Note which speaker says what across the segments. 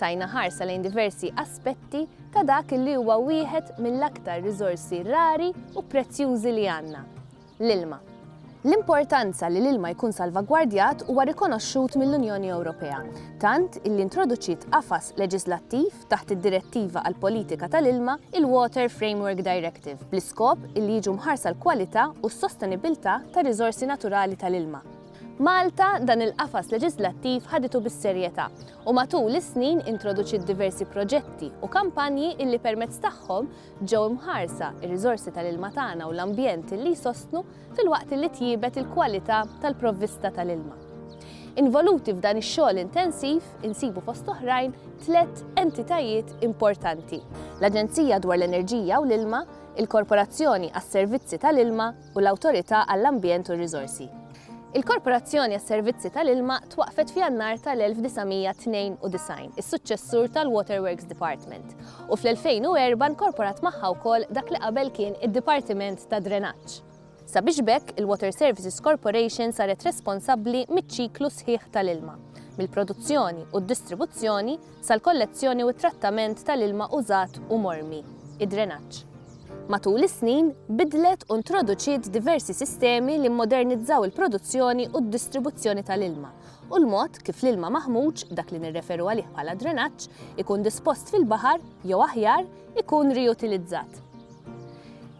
Speaker 1: Tajna ħarsa lejn diversi aspetti ta' dak li huwa wieħed mill-aktar riżorsi rari u prezzjużi li għandna, l-ilma. L-importanza li l-ilma jkun salvagwardjat huwa rikonoxxut mill-Unjoni Ewropea, tant illi introduċiet qafas leġiżlattiv taħt id-Direttiva għall-Politika tal-Ilma, il-Water Framework Directive, bl-iskop illi jiġu mħarsa l-kwalità u s-sostenibbiltà tar-riżorsi naturali tal-ilma. Malta dan il-qafas leġiżlattiv ħaditu bis-serjetà u matul is-snin introduċiet diversi proġetti u kampanji illi permezz tagħhom ġew imħarsa r-riżorsi tal-ilma tagħna u l-ambjent illi jsostnu filwaqt illi tjiebet il-kwalità tal-provvista tal-ilma. Involuti f'dan ix-xogħol intensiv insibu fost oħrajn tliet entitajiet importanti, l-Aġenzija dwar l-Enerġija u l-Ilma, il-Korporazzjoni għas-Servizzi tal-Ilma u l-Awtorità għall-Ambjent u r-Riżorsi. Il-Korporazzjoni għas-Servizzi tal-Ilma twaqqfet f'Jannar tal-1992, is-suċċessur tal-Waterworks Department, u fl-2004 nkorporat magħha wkoll dak li qabel kien id-Dipartiment tad-Drenaġġ. Sabiex b'hekk, il-Water Services Corporation saret responsabbli miċ-ċiklu sħiħ tal-ilma, mill-produzzjoni u d-distribuzzjoni, sal-kollezzjoni u t-trattament tal-ilma użat u mormi, id-drenaġġ. Matul is-snin, bidlet u ntroduċiet diversi sistemi li mmodernizzaw il-produzzjoni u d-distribuzzjoni tal-ilma u l-mod kif l-ilma maħmuġ, dak li nirreferu għalih bħala drenaġġ, ikun dispost fil-baħar jew aħjar, ikun riutilizzat.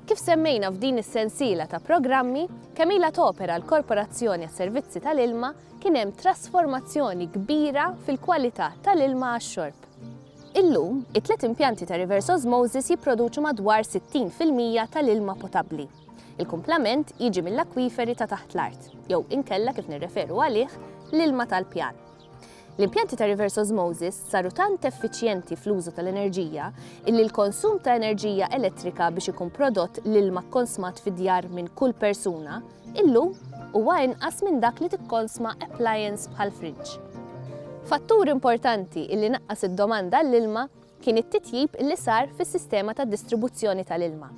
Speaker 1: Kif semmejna f'din is-sensiela ta' programmi, kemm ilha topera l-Korporazzjoni għas-Servizzi tal-Ilma, kien hemm trasformazzjoni kbira fil-kwalità tal-ilma għax-xorb. Illum, it-tliet impjanti ta' reverse osmosis jipproduċu madwar 60 fil-mija tal-ilma potabbli. Il-kumplament jiġi mill-akwiferi ta' taħt l-art, jew inkella kif nirreferu għalih, l-ilma tal-pjan. L-impjanti ta' reverse osmosis saru tant effiċjenti fl-użu tal-enerġija illi l-konsum ta' enerġija elettrika biex ikun prodott l-ilma kkonsmat fid-djar minn kull persuna Illum, huwa inqas minn dak li tikkonsma appliance bħall-friġġ. Fattur importanti li naqqas id-domanda għall-ilma kien it-titjib li sar fis-sistema ta' distribuzzjoni tal-ilma.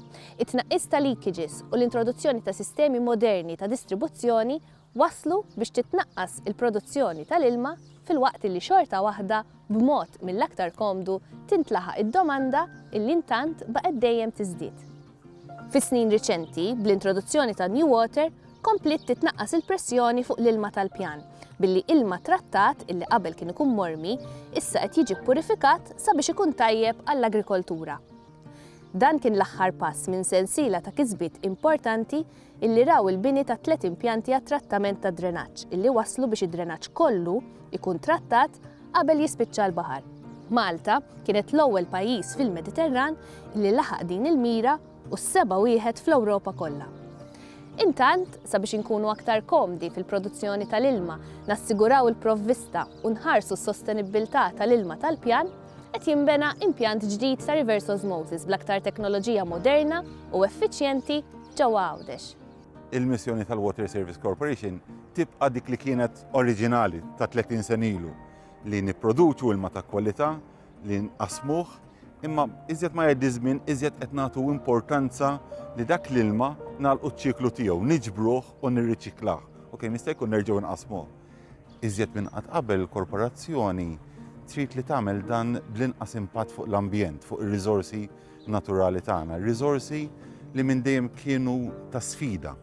Speaker 1: It-tnaqqis ta' leakages u l-introduzzjoni ta' sistemi moderni ta' distribuzzjoni wasslu biex titnaqqas il-produzzjoni tal-ilma filwaqt li xorta waħda b'mod mill-aktar komdu tintlaħaq id-domanda li intant baqgħet dejjem tiżdied. Fis-snin riċenti, bl-introduzzjoni ta' New Water, kompliet titnaqqas il-pressjoni fuq l-ilma tal-pjan, billi ilma trattat illi qabel kien ikun mormi, issa qed jiġi ppurifikat sabiex ikun tajjeb għall-agrikoltura. Dan kien l-aħħar pass minn sensiela ta' kisbiet importanti illi raw il-bini ta' tliet impjanti għat-trattament tad-drenaġġ illi wasslu biex id-drenaġġ kollu jkun trattat qabel jispiċċa l-baħar. Malta kienet l-ewwel pajjiż fil-Mediterran illi laħaq din il-mira u s-seba' wieħed fl-Ewropa kollha. Intant, sabiex inkunu aktar komdi fil-produzzjoni tal-ilma, nassiguraw il-provvista u nħarsu s-sostenibbiltà tal-ilma tal-pjan, qed jinbena impjant ġdid ta' reverse osmosis bl-aktar teknoloġija moderna u effiċjenti ġewwa Għawdex. Il-missjoni
Speaker 2: tal-Water Service Corporation tibqa' dik li kienet oriġinali ta' 30 sena ilu li nipproduċu ilma ta' kwalità li nqasmuh imma iżjed ma jgħaddi żmien iżjed qed nagħtu importanza li dak l-ilma nagħlqu ċ-ċiklu tiegħu, niġbruh u nirriċiklah. Ok, mista' jkun nerġgħu nqasmuh. Iżjed minn qatt qabel il-korporazzjoni trid li tagħmel dan bl-inqas impatt fuq l-ambjent, fuq ir-riżorsi naturali tagħna, riżorsi li minn dejjem kienu ta' sfida.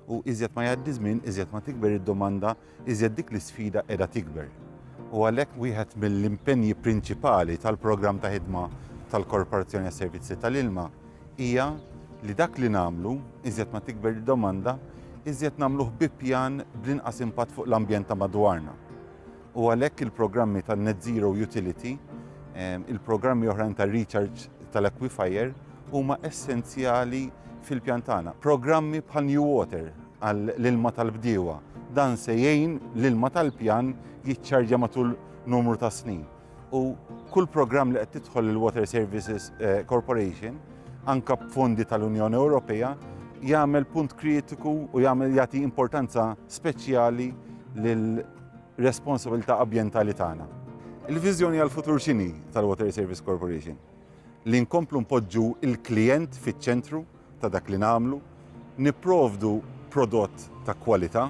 Speaker 2: U iżjed ma jgħaddi żmien, iżjed ma tikber id-domanda, iżjed dik l-isfida qiegħda tikber. U għalhekk wieħed mill-impenji prinċipali tal-programm ta' ħidma tal-Korporazzjoni għas-Servizzi tal-Ilma hija li dak li nagħmlu, iżjed ma tikber id-domanda, iżjed nagħmluh bi pjan bl-inqas impatt fuq l-ambjent ta' madwarna. u għalhekk il-programmi tan-Net Zero Utility, il-programmi oħrajn tar-recharge tal-aquifer huma essenzjali fil-pjan tagħna. Programmi bħal New Water għall-ilma tal-bdiewa dan se jgħin l-ilma tal-pjan jiċċarġja matul numru ta' snin. U kull programm li qed tidħol il-Water Services eh, Corporation, anka b'fondi tal-Unjoni Ewropea, jagħmel punt kritiku u jagħmel jagħti importanza speċjali lil responsabilità abjentali tagħna. Il-viżjoni għall-futur x'inhi tal-Water Service Corporation? Li nkomplu npoġġu l-klijent fiċ-ċentru ta' dak li nagħmlu, nipprovdu prodott ta' kwalità,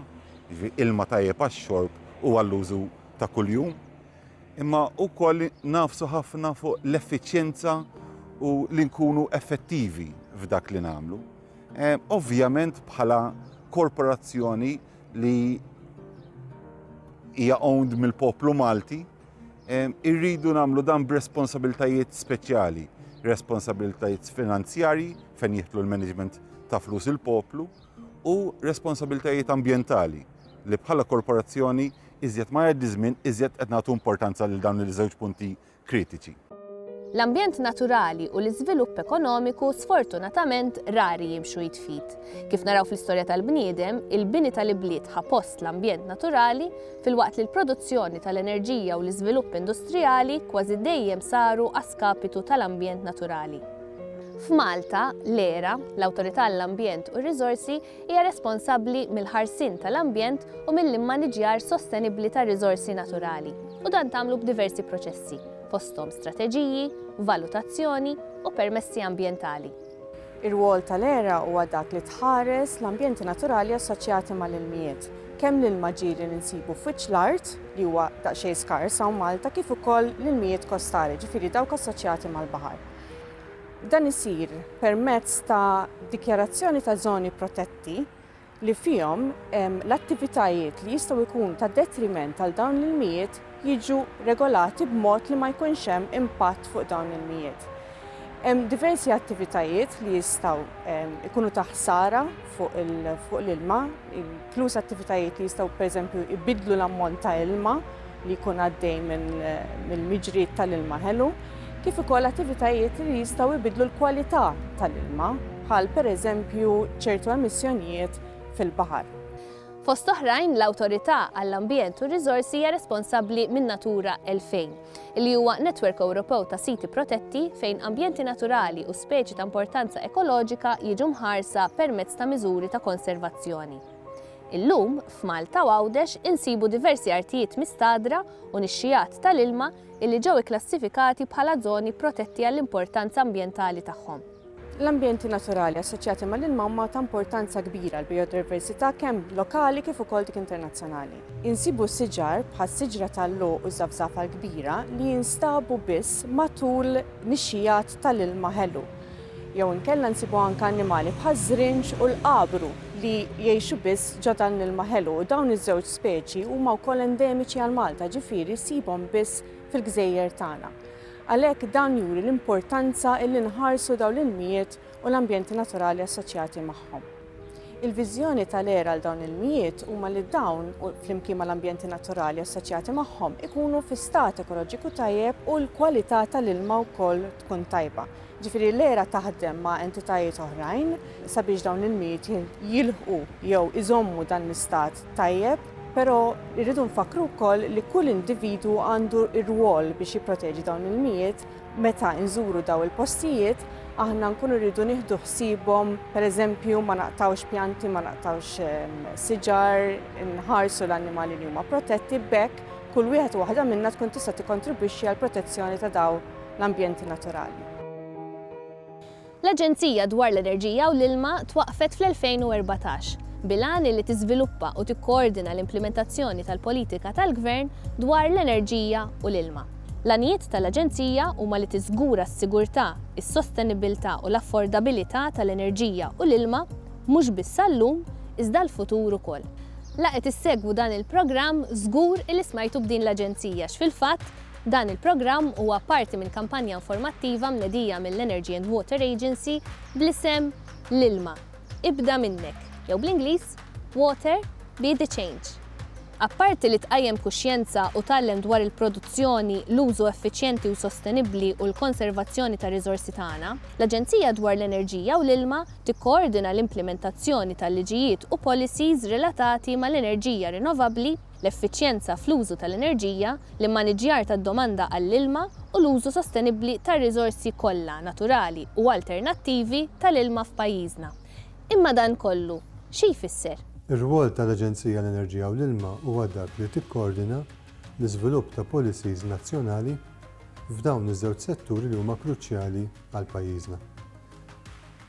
Speaker 2: ilma tajjeb għax-xorb u għall-użu ta' kuljum, imma wkoll nagħfsu ħafna fuq l-effiċjenza u li nkunu effettivi f'dak li nagħmlu. Ovvjament bħala korporazzjoni li hija owned mill-poplu Malti, irridu nagħmlu dan b'responsabiltajiet speċjali, responsabiltajiet finanzjarji fejn jitlu l-management ta' flus il-poplu u responsabiltajiet ambjentali li bħala korporazzjoni iżjed ma jgħaddi żmien iżjed qed nagħtu importanza lil dawn il-żewġ punti kritiċi. L-ambjent
Speaker 1: naturali u l-iżvilupp ekonomiku sfortunatament rari jimxu id f'id. Kif naraw fl-istorja tal-bniedem, il-bini tal-ibliet ħa post l-ambjent naturali, filwaqt li l-produzzjoni tal-enerġija u l-iżvilupp industrijali kważi dejjem saru a skapitu tal-ambjent naturali. F'Malta, l-ERA, l-Awtorità għall-Ambjent u r-Riżorsi, hija responsabbli mill-ħarsien tal-ambjent u mill-immaniġjar sostenibbli tar-riżorsi naturali u dan tagħmlu b'diversi proċessi, fosthom strateġiji, valutazzjoni u permessi ambjentali. Ir-rwol
Speaker 3: tal-ERA huwa dak li tħares l-ambjenti naturali assoċjati mal-ilmijiet, kemm l-ilma ġie li ninsibu f'wiċċ l-art, li huwa daqsxejn skars hawn Malta, kif ukoll l-ilmijiet kostali, ġifieri dawk assoċjati mal-baħar. Dan isir permezz ta' dikjarazzjoni ta' żoni protetti li fihom l-attivitajiet li jistgħu jkunu ta' detriment għal dawn l-ilmijiet jiġu regolati b'mod li ma jkunx hemm impatt fuq dawn l-ilmijiet. Hemm diversi attivitajiet li jistgħu jkunu ta' ħsara fuq l-ilma, inkluż attivitajiet li jistgħu pereżempju jbiddlu l-ammont ta' ilma li jkun għaddej mill-miġriet tal-ilma ħelu, kif ukoll attivitajiet li jistgħu jbiddlu l-kwalità tal-ilma, bħal pereżempju ċertu emissjonijiet fil-baħar. Fost
Speaker 1: oħrajn, l-Awtorità għall-Ambjent u r-Riżorsi hija responsabbli minn Natura 2000, li huwa netwerk Ewropew ta' siti protetti fejn ambjenti naturali u speċi ta' importanza ekoloġika jiġu mħarsa permezz ta' miżuri ta' konservazzjoni. Illum, f'Malta u Għawdex insibu diversi artijiet mistagħdra u nixxigħat tal-ilma illi ġew ikklassifikati bħala żoni protetti għall-importanza ambjentali tagħhom. L-ambjenti
Speaker 3: naturali assoċjati mal-ilma huma ta' importanza kbira għall-bijodiversità kemm lokali kif ukoll dik internazzjonali. Insibu siġar bħas-siġra tal-logħoq u ż-żafżafa l-kbira li jinstabu biss matul nixxigħat tal-ilma ħelu. jew inkella nsibu anke annimali bħaż-żrinġ u l-qabru li jgħixu biss ġo dan l-ilma ħelu u dawn iż-żewġ speċi huma wkoll endemiċi għal Malta, ġifieri ssibhom biss fil-gżejjer tagħna. Għalhekk dan juri l-importanza illi nħarsu dawn l-ilmijiet u l-ambjenti naturali assoċjati magħhom. Il-viżjoni tal-ERA għal dawn l-ilmijiet huma li dawn, flimkien mal-ambjenti naturali assoċjati magħhom, ikunu fi stat ekoloġiku tajjeb u l-kwalità tal-ilma wkoll tkun tajba. Ġifieri l-ERA taħdem ma' entitajiet oħrajn sabiex dawn l-ilmijiet jilħqu jew iżommu dan l-istat tajjeb, però rridu nfakkru wkoll li kull individwu għandu r-rwol biex jipproteġi dawn l-ilmijiet. Meta nżuru dawn il-postijiet aħna nkunu rridu nieħdu ħsiebhom, pereżempju ma naqtgħux pjanti, ma naqtgħux siġar, inħarsu l-annimali li huma protetti, b'hekk kull wieħed u waħda minna tkun tista' tikkontribwixxi għall-protezzjoni ta' dawn l-ambjenti naturali.
Speaker 1: L-Aġenzija dwar l-Enerġija u l-Ilma twaqqfet fl-2014, bil-għan illi tiżviluppa u tikkoordina l-implimentazzjoni tal-politika tal-Gvern dwar l-enerġija u l-ilma. L-għanijiet tal-Aġenzija huma li tiżgura s-sigurtà, is-sostenibbiltà u l-affordabilità tal-enerġija u l-ilma, mhux biss għal-lum, iżda għall-futur ukoll. La qed issegwu dan il-programm, żgur illi smajtu b'din l-Aġenzija, x'fil-fatt, Dan il-programm huwa parti minn kampanja informattiva mnedija mill-Energy and Water Agency bl-isem L-ilma, ibda minnek, jew bl-Ingliż, Water, be the change. Apparti li tqajjem kuxjenza u tgħallem dwar il-produzzjoni, l-użu effiċjenti u sostenibbli u l-konservazzjoni tar-riżorsi tagħna, l-Aġenzija dwar l-Enerġija u l-Ilma tikkoordina l-implimentazzjoni tal-liġijiet u policies relatati mal-enerġija rinnovabbli, l-effiċjenza fl-użu tal-enerġija, l-immaniġġjar tad-domanda għall-ilma u l-użu sostenibbli tar-riżorsi kollha naturali u alternattivi tal-ilma f'pajjiżna. Imma dan kollu xi jfisser? Ir-rwol tal-Aġenzija
Speaker 4: għall-Enerġija u l-Ilma huwa dak li tikkoordina l-iżvilupp ta' policies nazzjonali f'dawn iż-żewġ setturi li huma kruċjali għal pajjiżna.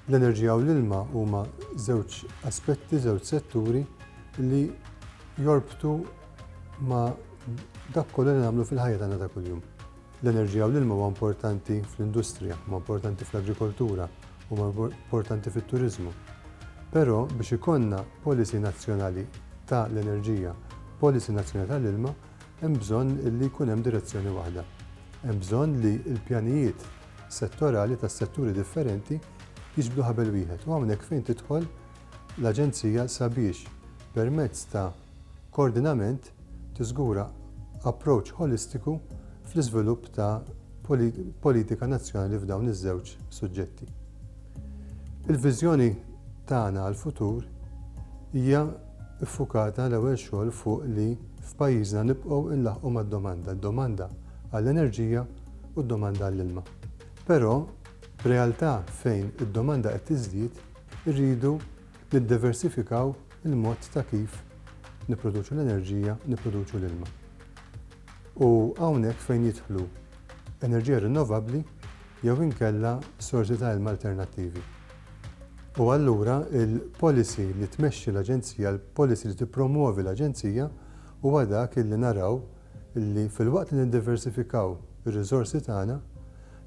Speaker 4: L-enerġija u l-ilma huma żewġ aspetti, żewġ setturi li jorbtu ma' dak kollu li nagħmlu fil-ħajja tagħna ta' kuljum. L-enerġija u l-ilma huwa importanti fl-industrija, huwa importanti fl-agrikoltura, huwa importanti fit-turiżmu. Però biex ikollna policy nazzjonali ta' l-enerġija, policy nazzjonali ta' l-ilma, hemm bżonn li jkun hemm direzzjoni waħda. Hemm bżonn li l-pjanijiet settorali tas-setturi differenti jiġbdu ħabel wieħed u hawnhekk fejn tidħol l-Aġenzija sabiex permezz ta' koordinament tiżgura approach ħolistiku fl-iżvilupp ta' politika nazzjonali f'dawn iż-żewġ suġġetti. Il-viżjoni tagħna għall-futur hija ffukata l-ewwel xogħol fuq li f'pajjiżna nibqgħu nlaħħqu mad-domanda, d-domanda għall-enerġija u d-domanda għall-ilma. Però, f'realtà fejn id-domanda qed tiżdied, irridu niddeversifikaw il-mod ta' kif nipproduċu l-enerġija, nipproduċu l-ilma. U hawnhekk fejn jidħlu enerġija rinnovabbli jew inkella sorsi ta' ilma alternattivi. U allura il-policy li tmexxi l-Aġenzija, il-policy li tippromwovi l-Aġenzija huwa dak illi naraw li filwaqt li niddiversifikaw ir-riżorsi tagħna,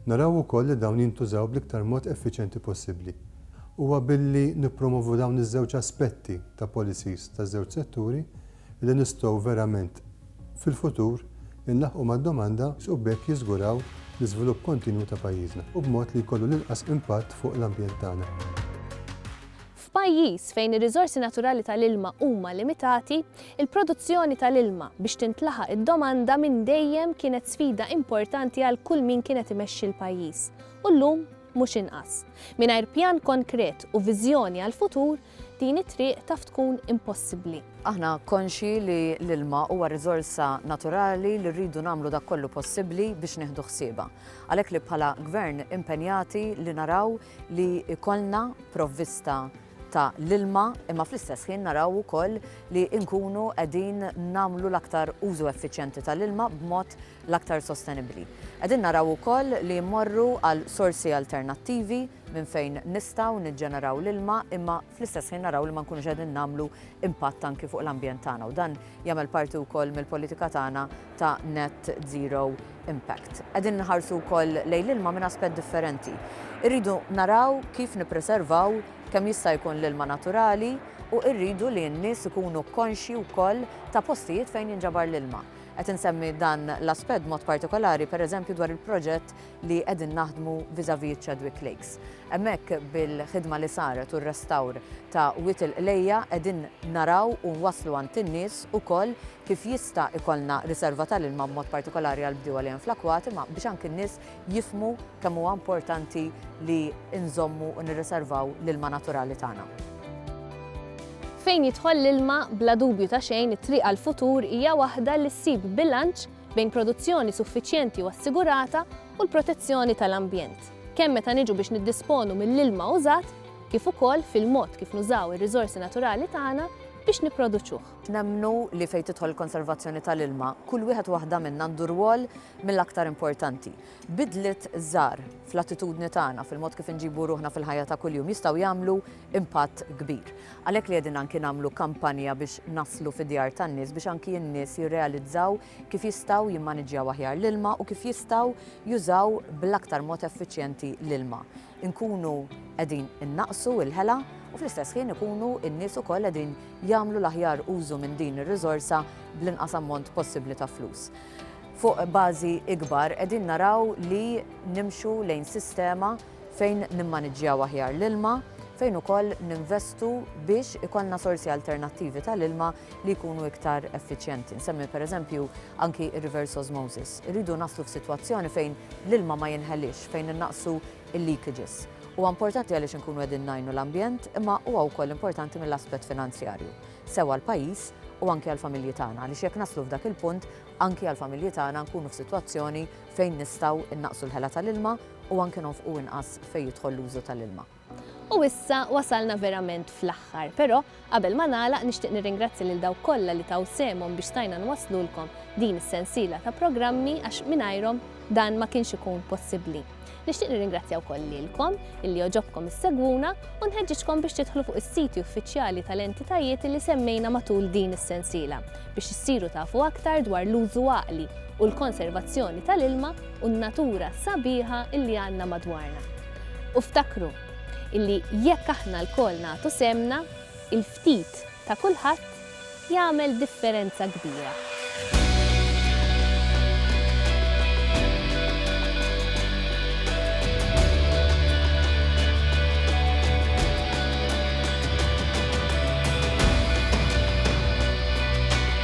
Speaker 4: naraw ukoll li dawn jintużaw bl-iktar mod effiċjenti possibbli. Huwa billi nippromovu dawn iż-żewġ aspetti ta' policies taż-żewġ setturi li nistgħu verament fil-futur inlaħħqu mad-domanda, u b'hekk jiżguraw l-iżvilupp kontinwu ta' pajjiżna, u b'mod li jkollu l-inqas impatt fuq l-ambjent tagħna. F'pajjiż
Speaker 1: fejn ir-riżorsi naturali tal-ilma huma limitati, il-produzzjoni tal-ilma biex tintlaħaq id-domanda minn dejjem kienet sfida importanti għal kull min kien qed imexxi l-pajjiż, u llum mhux inqas. Mingħajr pjan konkret u viżjoni għall-futur, din it-triq taf tkun impossibbli. Aħna konxji
Speaker 5: li l-ilma huwa riżorsa naturali li rridu nagħmlu dak kollu possibbli biex nieħdu ħsiebha. Għalhekk li bħala Gvern impenjati li naraw li jkollna provvista ta' l-ilma imma fl-istess ħin naraw ukoll li nkunu qegħdin nagħmlu l-aktar użu effiċjenti ta' l-ilma b'mod l-aktar sostenibbli. Qegħdin naraw ukoll li mmorru għal sorsi alternattivi minn fejn nistgħu niġġeneraw l-ilma imma fl-istess ħin naraw li ma nkunux qegħdin nagħmlu impatt anki fuq l-ambjent tagħna u dan jagħmel parti wkoll mill-politika tagħna ta' net zero impact. Qegħdin nħarsu wkoll lejn l-ilma minn aspett differenti. Irridu naraw kif nippreservaw kemm jista' jkun l-ilma naturali u rridu li n-nies ikunu konxji wkoll ta' postijiet fejn jinġabar l-ilma. Qed insemmi dan l-aspett mod partikolari pereżempju dwar il-proġett li qegħdin naħdmu vis-a-vis Chadwick Lakes. Hemmhekk bil-ħidma li saret u r-restawr ta' Wied il-Qlejja qegħdin naraw u nwasslu għand in-nies ukoll kif jista' ikollna riserva tal-ilma b'mod partikolari għall-bdiewa li hemm fl-akwati imma biex anki n-nies jifhmu kemm huwa importanti li nżommu u nirriservaw l-ilma naturali tagħna.
Speaker 1: Fejn jidħol l-ilma, bla dubju ta' xejn it-triq għall-futur hija waħda li ssib bilanċ bejn produzzjoni suffiċjenti u assigurata u l-protezzjoni tal-ambjent, kemm meta niġu biex niddisponu mill-ilma użat kif ukoll fil-mod kif nużaw ir-riżorsi naturali tagħna biex nipproduċuh. Nemmnu li
Speaker 5: fejn tidħol il-konservazzjoni tal-ilma, kull wieħed u waħda minna għandu rwol mill-aktar importanti. Bidliet żgħar fl-attitudni tagħna, fil-mod kif inġibu ruħna fil-ħajja ta' kuljum jistgħu jagħmlu impatt kbir. Għalhekk li qegħdin anki nagħmlu kampanja biex naslu fid-djar tan-nies biex anki n-nies jirrealizzaw kif jistgħu jimmaniġġjaw aħjar l-ilma u kif jistgħu jużaw bl-aktar mod effiċjenti l-ilma. Inkunu qegħdin innaqqsu l-ħela u fl-istess ħin ikunu n-nies ukoll qegħdin jagħmlu l-aħjar użu minn din ir-riżorsa bl-inqas ammont possibbli ta' flus. Fuq bażi ikbar qegħdin naraw li nimxu lejn sistema fejn nimmaniġġjaw aħjar l-ilma, fejn ukoll ninvestu biex ikollna sorsi alternattivi tal-ilma li jkunu iktar effiċjenti. Nsemmi pereżempju anki r-reverse osmosis. Irridu naslu f'sitwazzjoni fejn l-ilma ma jinħeliex, fejn innaqsu l-leakages. Huwa importanti għaliex inkunu qegħdin ngħinu l-ambjent, imma huwa wkoll importanti mill-aspett finanzjarju, sew għall-pajjiż u anki għall-familji tagħna, għaliex jekk naslu f'dak il-punt, anki għall-familji tagħna nkunu f'sitwazzjoni fejn nistgħu innaqsu l-ħela tal-ilma, u anke nonfqu inqas fejn jidħol l-użu tal-ilma. U
Speaker 1: issa wasalna verament fl-aħħar, però qabel ma nagħlaq nixtieq nirringrazzja lil dawk kollha li taw sehemhom biex stajna nwasslulkom din is-sensiela ta' programmi għax mingħajrhom dan ma kienx ikun possibbli. Nixtieq nirringrazzja wkoll lilkom illi joġobkom issegwuna u nħeġġiġkom biex tidħlu fuq is-siti uffiċjali tal-entitajiet li semmejna matul din is-sensiela biex issiru tafu aktar dwar l-użu għaqli u l-konservazzjoni tal-ilma u n-natura sabiħa illi għandna madwarna. U ftakru illi jekk aħna lkoll nagħtu sehemna, il-ftit ta' kulħadd jagħmel differenza kbira.